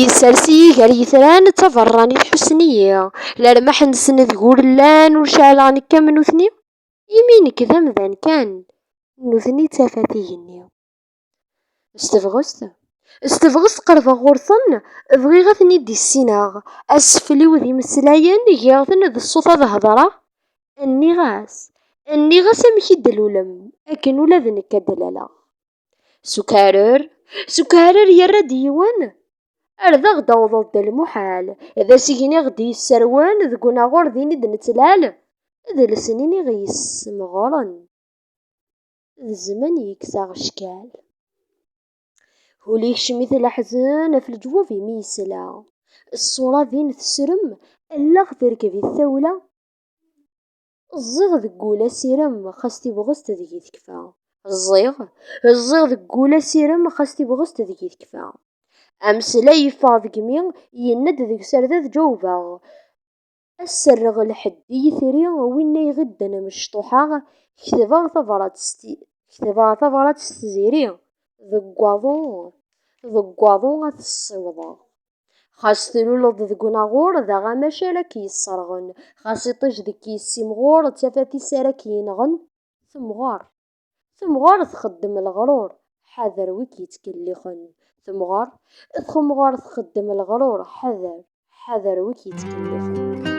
Yessers-iyi gar yitran d taberranit ḥussen-iyi. Lermaḥ-nsen d gur llan ur ceɛleɣ nekk am nutni. Imi nekk d amdan kan, nutni d tafat igenni. S tebɣest, s tebɣest qerbeɣ ɣur-ten, bɣiɣ ad ten-id-issineɣ. Asfel-iw d imeslayen, giɣ-ten d ṣṣut ad hedreɣ. Nniɣ-as, nniɣ-as amek i d-tlulem, akken ula d nekk ad d-laleɣ. S ukarer, s ukarer yerra-d yiwen, ar d aɣ-d-awḍeḍ d lmuḥal, d asigen i ɣ-d-yesserwen deg unaɣur din i d-nettlal, d lesnin i ɣ-yessemɣren, d zzman i yekkes aɣeccal. Hul ikcem-it leḥzen af leǧwub imi yesla. Ṣṣura din tesrem, allaɣ terkeb-it tawla. Ẓẓiɣ deg wul asirem, xas tibɣest deg-i tekfa. Ẓẓiɣ, ẓẓiɣ deg wul asirem, xas tibɣest deg-i tekfa. Ameslay yeffeɣ deg-mi, yenna-d deg-s ar d ad ǧawbeɣ. Ad serreɣ lḥedd i yitri, winna iɣidden mecṭuḥa, ketbeɣ tabrat s ketbeɣ tabrat s tziri, deg waḍu, deg waḍu ad t-ssiwḍeɣ. Xas tluleḍ deg unaɣur, d aɣamac ara k-yesserɣen. Xas iṭij deg k-yessimɣur, d tafat-is ara k-yenɣen. Temɣer. Temɣer txeddem leɣrur, ḥader wi k-yettkellixen. Temɣer. Temɣer txeddem leɣrur, ḥader. Ḥader wi k-yettkellixen.